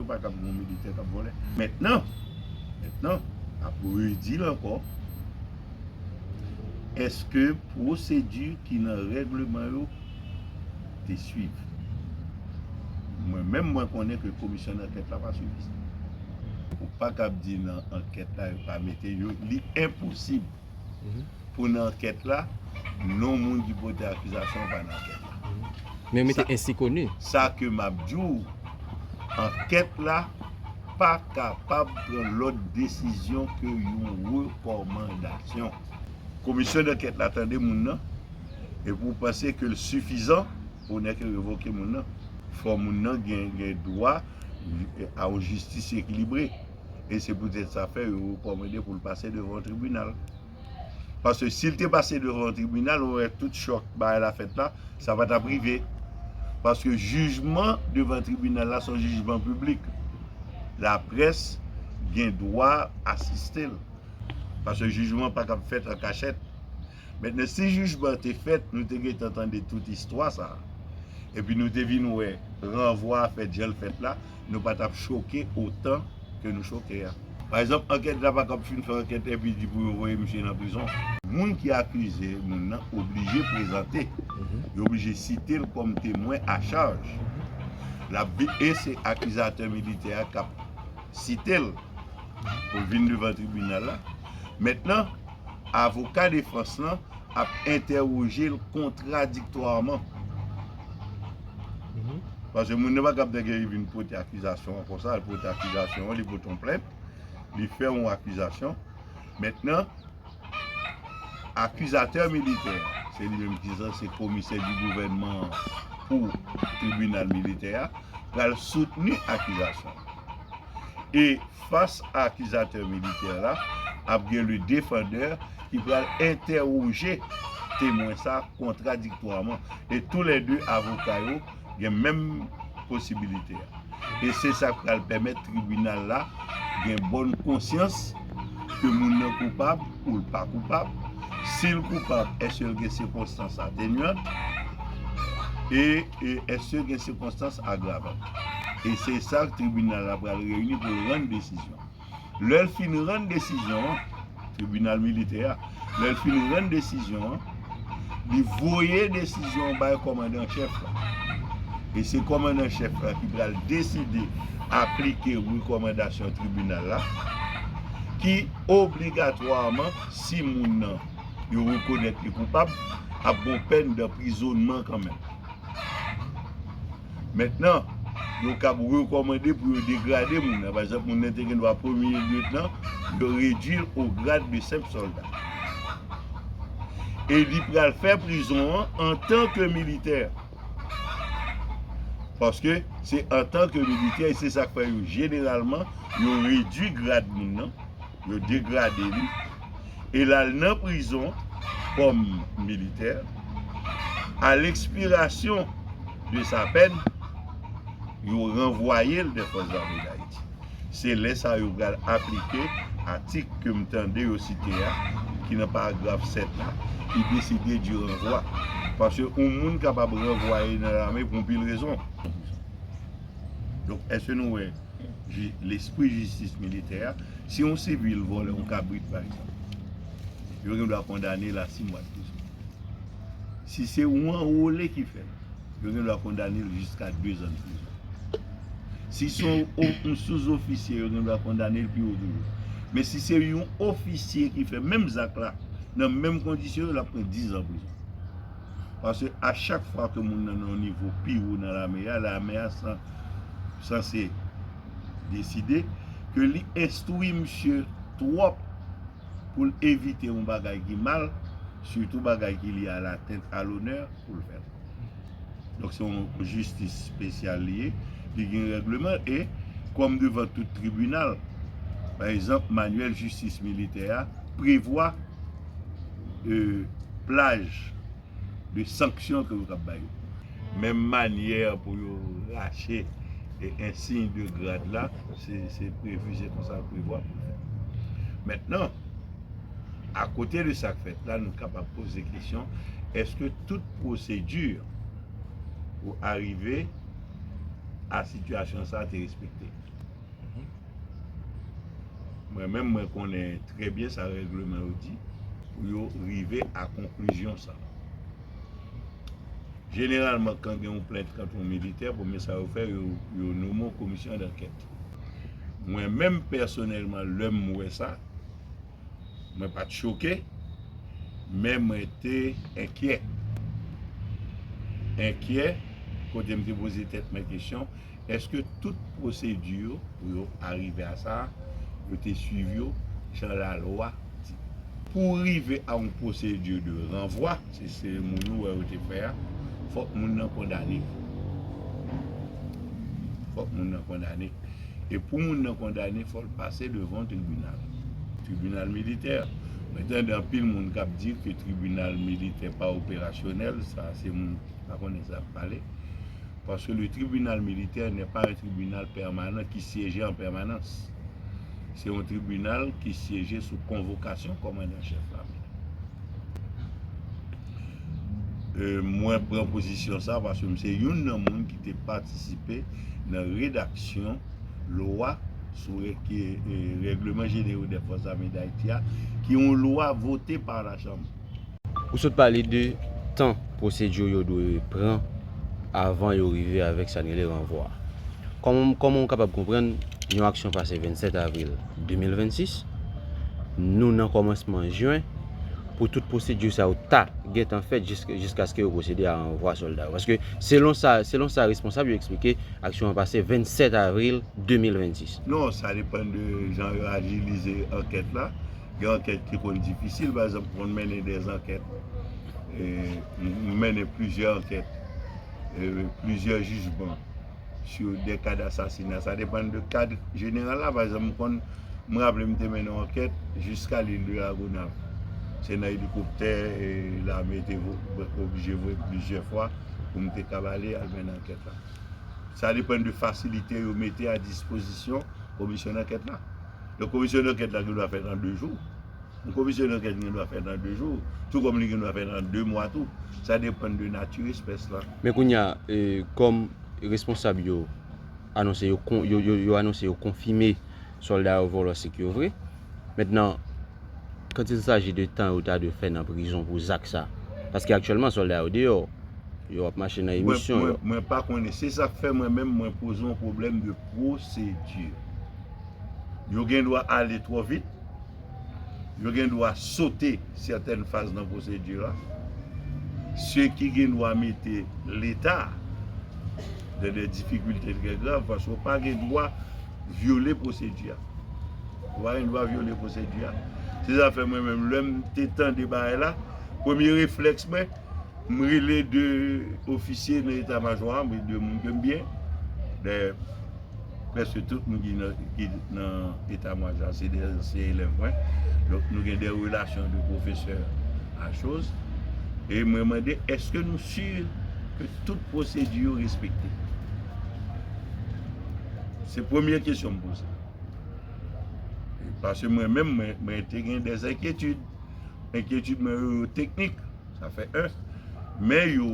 yo pa kab yon militè kap vòlè mètnan mètnan ap redil ankò eske pwosedi ki nan règleman yo te swiv mwen menm mwen konnen ke komisyon dankèt la pa swiv li sa ou pa kab di nan ankèt la yo pa mete yo li enposib. pou nan ankèt la, non moun ki pote akizasyon an pa nan ankèt la. Men yo mete ensi koni. Sa ke m ap di w, ankèt la pa kapab pran lòt desizyon ke yon rekòmandasyon. Komisyon dankèt la tande moun nan, epi w panse ke l sifizan pou nèk yo revoke moun nan, fò moun nan gen dwa a yon jistis ekilibre. e se poutèt sa fè yo rekòmande pou l pase devan yon tribinal. Paske si l te pase devan yon tribinal, ou wè tout chòk bagay la fèt la, sa pa t ap rive. Paske jijman devan tribinal la se yon jijman piblik. Laprès gen dwa asiste l. Paske jijman pa kab fèt an kachèt. Mentnan si jijman an te fèt nou te gentan tande tout istwa sa a epi nou te vin wè ranvwa a fèt jan l fèt la nou pa t ap choke otan ke nou choke a. Pa egzanp ankèt la pa kab fin fè ankèt epi di pou yo voye misye nan prizon. Moun ki akize moun nan oblije prezante, yo oblije site l kòm temwen a chaj. L ap vin e se akizatè militè a k ap site l pou l vin devan tribinal la. Mentnan. avoka defans lan ap entèwoje l kontradiktwaman. Pase moun nan pa kab dègè li vin pote akizasyon an konsa, li pote akizasyon an, li pote yon plent, li fè yon akizasyon. Mentnan, akizatè militè a, se li menm ki sa, se komisè di gouvènman an pou tribinal militè a, pral soutni akizasyon an. E. Fas a akizatè militè la, ap gen le defandeur ki pral entèwoje temwen sa kontradiktwaman e tou lè 2 avoka yo gen menm posibilite a. E se sa k pral pèmèt tribinal la gen bòn konsyans ke moun nan koupab. ou l pa koupab, si l koupab èske l gen sikonstans atenuant e èske gen sikonstans agravant. E se sa tribinal la pral reyini pou l rann desizyon. Lè l fin rann desizyon an, tribinal militè a, lè l fin rann desizyon an, li voye desizyon an bay kòmandan an chèf la. E se kòmandan an chèf la ki pral deside aplike rekòmandasyon tribinal la ki obligatwaman, si moun nan yo rekonèt li koupab, ap gon pèn danprizonman kanmenm. Mentnan, yo kab rekòmande pou yo degrade moun nan. Pa egzanp, moun nan te gen dwa premye lyetnan, yo redui l o grad de senp sòlda. E li pral fè prizon an antanke militè. Paske, se antanke militè, e se sa k fè yo jeneralman, yo redui grad moun nan. Yo degrade li e l al nan prizon kòm militè. A lekspirasyon de sa pèn, yo ranvwaye l dè Fòs Zame Dayiti. Se lè sa yo pral aplike atik ke m tande yo site a, ki nan paragraf 7 la, ki deside di ranvwa. Paske yon moun kapab ranvwaye nan lame pou yon pil rezon. Donk, èske nou wè? lespri jistis militè a, si yon sivil vòlè yon kabrit pa egzanp, yo gen dwa kondane l a 6 mwa prizon. Si se yon anwole ki fè l, yo gen dwa kondane l jiska 2 zan prizon. Si se yon souzofisye, yo gen dwa kondane l pi wo toujou. Men si se yon ofisye ki fè menm zak la, nan menm kondisyon yo, l ap pran 10 zan prizon. Paske a chak fwa ke moun nan nan yon nivo pi wo nan lame a, lame a sanse deside ke li enstwi misye twòp pou l evite yon bagay ki mal, sitou bagay ki lye a la tèt, a lonè pou l fè l. Donk se yon jistis spesyal li ye, li gen règleman l e kòm devan tout tribinal, pa egzanp, manyèl jistis militè a, prevwa plaj de sanksyon ke yo kab bay yo. Menm manyè pou yo rache ensiy de grad la, se prevu, se konsa yo prevwa pou fè. Mentnan, akote de sa k fèt la, nou kapab poze kesyon, eske tout pwosedu pou arive a sitiyasyon sa te respekte? Mwen menm mwen konnen trè byen sa règleman yo di pou yo rive a konklizyon sa. Jeneralman kan gen yon plent kont yon militè, premye sa yo fè yo nome yon komisyon dankèt. Mwen menm pèsonèlman lè m wè sa, mwen pa t choke men mwen te enkyè. Enkyè kote m te poze tèt mwen kesyon. Eske tout pwosedi yo pou yo arive a sa a, yo te swiv yo jan lalwa di? Pou rive a yon pwosedi de ranvwa, se seremoni ou wè yo te fè a, fòk moun nan kondane. Fòk moun nan kondane. E pou moun nan kondane, fò l pase devan yon tribinal. Tribinal militè. Mwen tande anpil moun k ap di ke tribinal militè pa operasyonèl, sa se moun ki pa konnen sa y ap pale. paske le tribinal militè nè pa yon tribinal pèmanan ki syeje an pèmanans. Se yon tribinal ki syeje sou konvokasyon kòmandan chèf lame. Mwen pran pozisyon sa paske m se youn nan moun ki te patisipe nan redaksyon lwa sou règleman jenerou dè fòs zame dayiti a ki yon lwa vote pa lachanm. Ou sot pale de tan procedure yo dwe pran avan yo rive avèk sa n rele ranvwa. Kòman ou kapab konprann yon aksyon pase 27 avril 2026, nou nan kòmansman jen pou tout procedure sa yo ta gentan fèt jiskaske yo procede a ranvwa sòlda yo. Paske selon sa selon sa responsab yo eksplike aksyon an pase 27 avril 2026. Non, sa depan de jan yo ajilize ankèt la. Gen ankèt ki konn difisil, pa egzanp mwen mennen de ankèt, mwen mennen plizyè ankèt, plizyè jijman sou de kad asasina. Sa depann de kad jeneral la, pa egzanp mwen konn, mwen raple mwen te mennen yon ankèt jiska lil de la Gonav. Se nan elikoptè lame te oblije voye plizyè fwa pou mwen te kab ale al mennen ankèt la. Sa depann de fasilite yo mete a dispozisyon komisyon dankèt la. Donk komisyon dankèt la gen dwa fèt an 2 jou. Yon komisyon dankèt gen dwa fèt an 2 jou, tou kòm li gen dwa fèt an 2 mwa tou. Sa depann de nati espès la. Men kounye a, kòm responsab yo anonse yo kon, yo anonse yo konfime sòlda yo vòlò sik yo vre. Mentnan, kant il saji de tan yo ta dwe fè nan prizon pou zak sa, paske aktyèlman sòlda yo deyò, yo ap mache nan emisyon yo. Mwen pa konnen. Se sa k fè mwen menm mwen poze yon pwoblèm de pwosedi. Yo gen dwa ale twò vit. Yo gen dwa sote sètèn faz nan pwosedi a. Se ki gen dwa mete Leta dan dè difikilte trè grav paske ou pa gen dwa vyole pwosedi a. Ou pa gen dwa vyole pwosedi a. Se sa fè mwen menm lè m te tande bagay la, premye reflèks mwen, m rele 2 ofisye nan eta majò a, m rele 2 moun ke m byen. Dayè. Prèske tout moun ki nan eta mwa jan se de ansyen elèv mwen. Donk nou gen de relasyon de pwofesè a choz. E mwen mande eske nou si ke tout pwosedi yo respekte. Se premye kesyon m poze. Pase mwen menm mwen te gen de enkyetid. Enkyetid mwen yo yo teknik. Sa fè 1. Men yo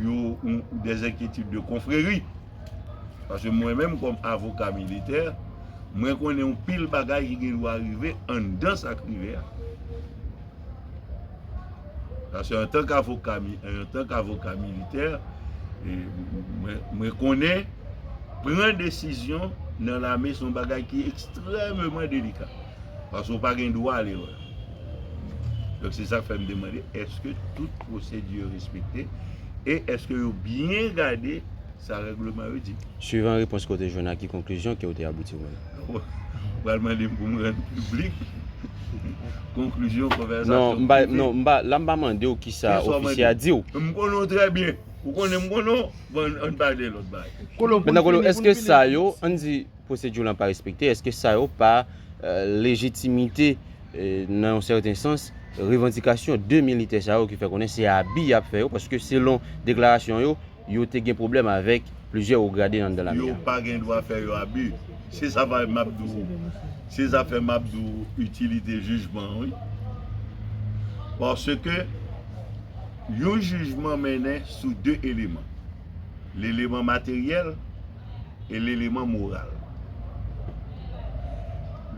yo de enkyetid de konfreri. Paske mwen menm kòm avoka militè, mwen konnen yon pil bagay ki gen dwa rive anndan sa k rive a. Paske antan k avoka, antan k avoka militè, mwen konnen pran desizyon nan lame son bagay ki ekstrèmeman delika. Paske ou pa gen dwa ale wè. Donk se sa k fè m demande, eske tout pwosedi yo respekte? e èske yo byen gade sa règleman yo di? Swivan repons ke w te jwenn a ki konklizyon ke w te abouti ou menm? Ou pral mande m pou m rann piblik konklizyon konvèsasyon m te Non, m pa, la m pa mande w kisa ofisye a di w. M konnen w trè byen. Ou konnen m konnen w, bon ann pale lòt bagay. Kolo, pou n fini, pou n fini. Mètnan Kolo, èske sa yo, ann di. pwosedure lan pa respekte, eske sa yo pa lejitimite nan yon sèten sans revandikasyon 2 militè sa yo ki fè konnen se abi y ap fè yo paske selon deklarasyon yo, yo te gen pwoblèm avèk plizyè wo grade anndan lame a? Yo pa gen dwa fè yo abi. Se zafè m ap di w, se zafè m ap di w itilite jijman an wi. Paske yon jijman mennen sou 2 eleman. Leleman materyèl. e leleman moral.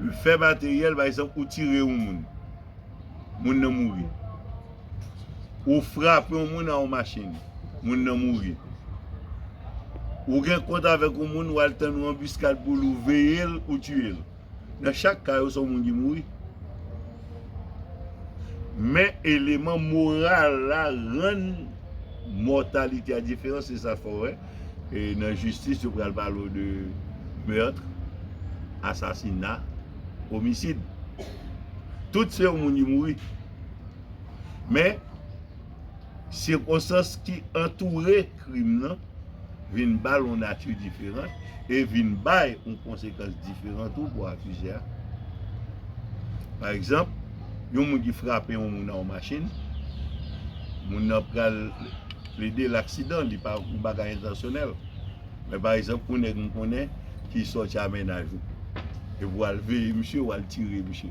Lefè materyèl, pa egzanp, ou tire yon moun, moun nan mouri. Ou frape yon moun a yon machin, moun nan mouri. Ou gen kont avèk yon moun, ou al tann yon anbiskad pou li, ou veye l, ou tiye l. Nan chak ka yo se yon moun ki mouri. Men eleman moral la rann mòtalite a diferan se sa fè w wè nan jistis yo pral pale w de meurtre, asasina, omisid. Tout se yon moun ki mouri. Men. sikonstans ki antoure krim nan vin ba l yon nati diferan e vin bay yon konsekans diferan tou pou akize a. Pa egzanp, yon moun ki frape yon moun nan yon machin, moun nan pral plede l aksidan, li pa yon bagay entansyonèl. Men pa egzanp, yon nèg m konnen ki sòti a mennaj ou epi w al veye misye, w al tire misye.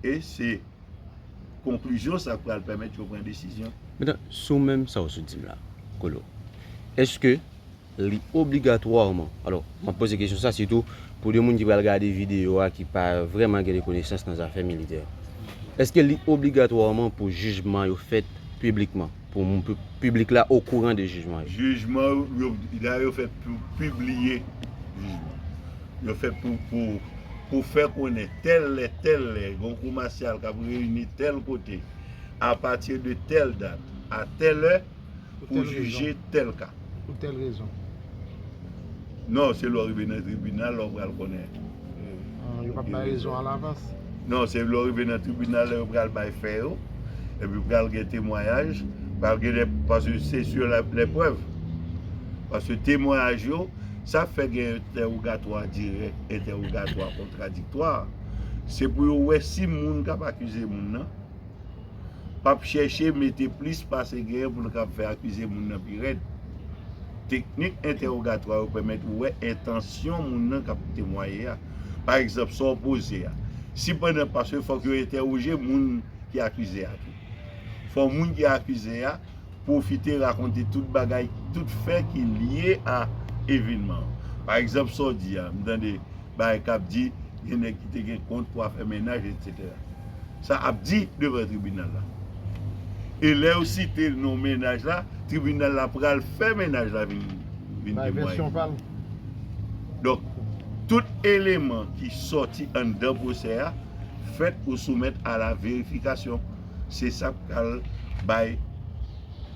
E se konklizyon sa k pral pèmèt yo pran desizyon. Metan, sou menm sa w sot di m la, Colo, èske li obligatwaman, alò, m ap poze kesyon sa sitou pou de moun ki pral gade videyo a ki pa vrèman gen de konesans nan zafè militè, èske li obligatwaman pou jijman yo fèt piblikman? Pou moun pou piblik la okouran de jijman yo. Jijman yo, la yo fèt pou pibliye jijman. Yo fèt pou pou fè konnen tèl lè tèl lè gon kou masyal k ap reyini tèl kote apati de tèl dat a tèl lè pou jije tèl ka. pou tèl rezon. Non, se lè w rive nan tribinal lè w pral konnen. Ah, yo pap bay rezon a lavans? Non, se lè w rive nan tribinal lè yo pral bay fè yo, epi pral gen temwayaj, pral gen de, paske se sou lè prèv. Paske temwayaj yo, sa fè gen entèwogatwa dirèk, entèwogatwa kontradiktwa, se pou yo wè si moun kap akize moun nan, pap chèche mete plis pase genyen pou l kab fè akize moun nan pi rèd. Teknik entèwogatwa yo pèmèt ou wè entansyon moun nan k ap temwaye a. Pa egzanp, sa w poze a. Sipandan, paske fòk yo entèwoje moun ki akize a tou. Fò moun ki akize a. pwofite rakonte tout bagay, tout fè ki lye a evenman an. Pa egzanp sa w di a, m tande bagay k ap di gen nèg ki te gen kont pou afè mennaj etsetera. Sa ap di devan tribinal la. E lè yo site non mennaj la, tribinal la pral fè mennaj la vin temwaye. Donk, tout eleman ki soti anndan pwosè a fèt pou soumèt a la verifikasyon. Se sa k pral bay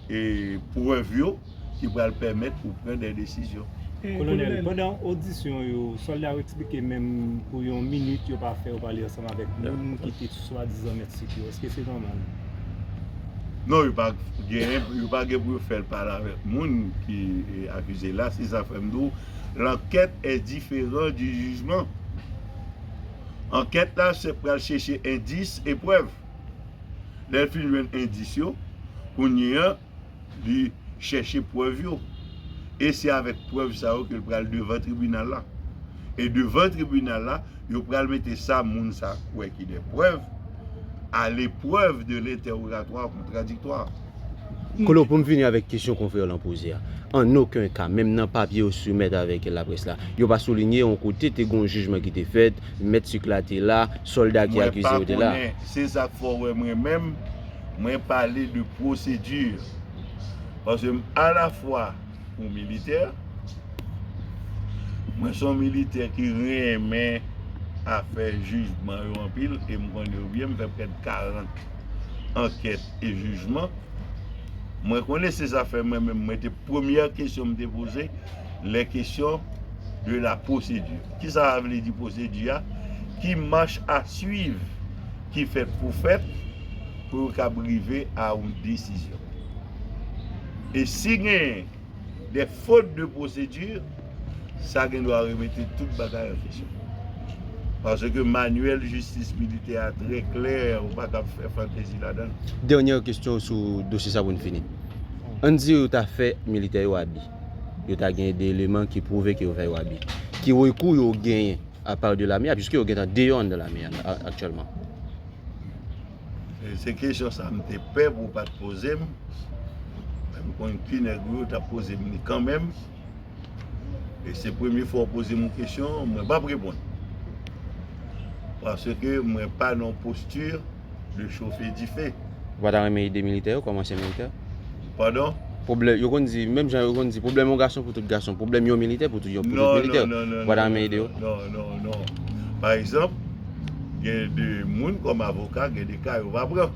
prèv yo ki pral pèmèt ou pran de desizyon. Kolonèl, pandan odisyon yo, sòlda yo eksplike menm pou yon minit yo pa fè yo pale ansanm avèk moun ki te swadizan mèt sit yo. Èske se nòmal? Non, yo pa gen pou yo fè pale avèk moun ki akize l la. Se sa k fè m di w lankèt è diferan di jijman. Ankèt la se pral chèche endis e prèv. Lè l fin jwenn endis yo, kounye an, li chèche prèv yo. E se avèk prèv sa yo ke l pral devan tribinal la. E devan tribinal la, yo pral mete sa moun sa kwè ki de prèv a leprèv de l entèwogatwa kontradiktoa. Colo pou m fini avèk kesyon konfrè w lan poze a, an oken ka, menm nan papye yo soumèt avèk laprès la, yo pa soulinye yon kote te gen yon jijman ki te fèt, mèt sik la te la, sòlda ki akize yo te la. Mwen pa konnen, se sa k fè w wè mwen menm, mwen pale de pwosedi. Paske m alafwa yon militè, mwen se yon militè ki renmen afè jijman yo anpil e m konnen yo byen, m fè prèt 40 ankèt. e jijman. Mwen konnen se zafè mwen menm mwen te premyè kesyon m te poze lè kesyon de la pwosedi. Ki sa a vle di pwosedi a? Ki mach a swiv ki fèt pou fèt pou yo kab rive a yon desizyon. E si gen de fot de pwosedi, sa gen dwa remete tout bagay an kesyon. Paske manyèl jistis militè a trè klè, ou pa kab fè fantezi ladan l. Dènyè kesyon w sou dosye sa pou n fini. Ann di yo ta fè militè yo abi. Yo ta gen de eleman ki pwouve ke yo fè yo abi. Ki rekou yo genyen apar de lame a, piske yo gentan deyò anndan lame a aktyèlman? Se kesyon sa m te pè pou w pa t poze m. Men m konn ki nèg ou yo t ap poze m li kanmenm. E se premye fwa ou poze m yon kesyon, mwen p ap reponn. Paske mwen pa nan yon postir de chofe dife. Ou pa ta renmen ede militè yo kòmanse militè? Pardon? Pwoblè, yo konn di, menm jan yo konn di, pwoblèm yon gason pou tout gason, pwoblèm yon militè pou tout yon Non, militè. non, non, non, Bwa dame ede yo. non, non, non, non, non. Pa egzanp, gen de moun kòm avoka, gen de ka yo pa pran.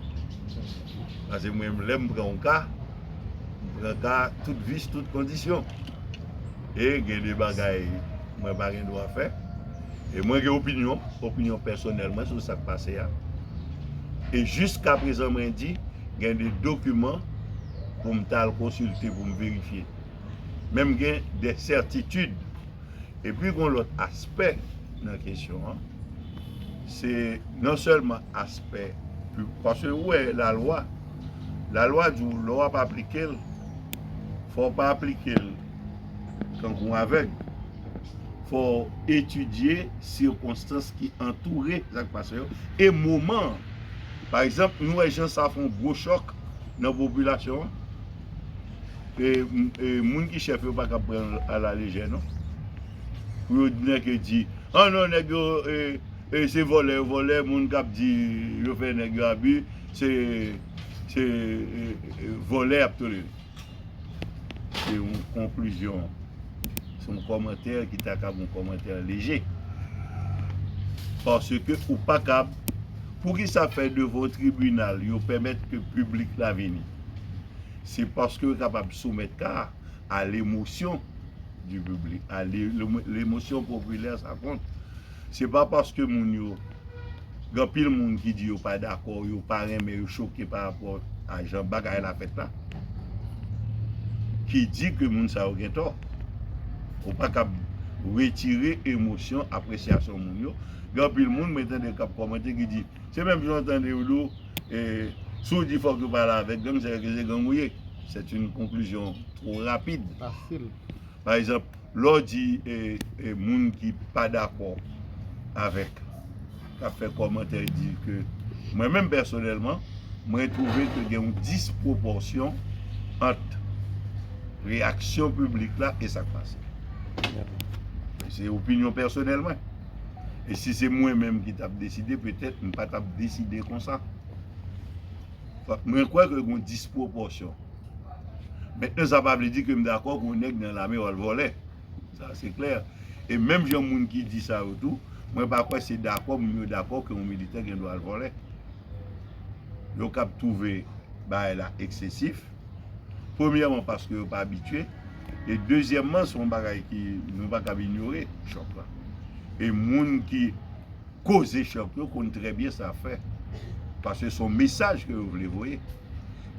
Pase mwen menm lè m pran yon ka, m pran ka tout vis, tout kondisyon. E gen de bagay mwen pa gen dwa fè. E mwen gen opinyon, opinyon pèsonèl mwen sou sa k pase a. E jiskaprezan mwen di, gen de dokiman pou m ta al konsilte pou m verifye. Men m gen de sètitid. Epi gen yon lòt aspè nan kesyon an, se non sèlman aspè, paske ou wè lalwa, lalwa di w lè w ap aplike l, fò w pa aplike l tankou yon avèg. fò w etidye sikonstans ki antoure sa k pase yo e moman an. Pa egzanp, nou wè jan sa fè yon gwo chòk nan popilasyon an. E moun ki chèf yo pa kapab pran l alalejè non. Pou yo nèke di, an non nèg yo se vòlè yo vòlè, moun k ap di yo fè nèg yo abi se vòlè y ap tolere. Se yon konklizyon. Se yon kòmantè ki ta kab yon kòmantè leje. Paske ou pa kab, pou ki sa fè devan yon tribinal yo pèmèt ke piblik la vini? Se paske yo kapab soumèt ka a a lemosyon di piblik, a lemosyon popilè sa kont. Se pa paske moun yo, gen anpil moun ki di yo pa dakò, yo pa renmen, yo choke pa rapò a jan bagay la fèt la, ki di ke moun sa yo gen tò. Ou pa kab retire emosyon, apresyasyon moun yo. Gen anpil moun mwen tande kap kòmante ki di, se menm jan ou tande yo di ou, si ou di fòk yo pale avèk gang, se paske se gang ou ye. Sèt yn konklizyon two rapid. Pa egzanp, lè w di moun ki pa dakò avèk, k ap fè kòmantè di ke, mwen menm pèsonèlman, mwen twouve ke gen yon dispwopòsyon ant reyaksyon piblik la e sa k pase. Se opinyon pèsonèl mwen. E si se mwen menm ki t ap deside, petèt m pa t ap deside konsa. Mwen kwè ke gen yon dispwopòsyon. Mentnan sa pa vle di ke m dakò ke yon nèg nan lame yo al vòlè. Sa se klè. E menm jan moun ki di sa yo tou, mwen pa kwè se dakò moun yo dakò ke yon militè gen dwa al vòlè. Yo kab twouve bagay la eksesif. Premyèman paske yo pa abitye. E dezyèmman se yon bagay ki nou pa kab inyore chòk la. E moun ki koze chòk yo konn trè byen sa fè. Paske se yon mesaj ke yo vle voye.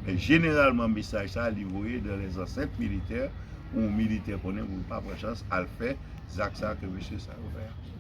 Men jeneralman mesaj sa li voye dan lè zansèt militè pou yon militè konnen pou l pa pran chans al fè zak sa ke mesye sa yo fè a.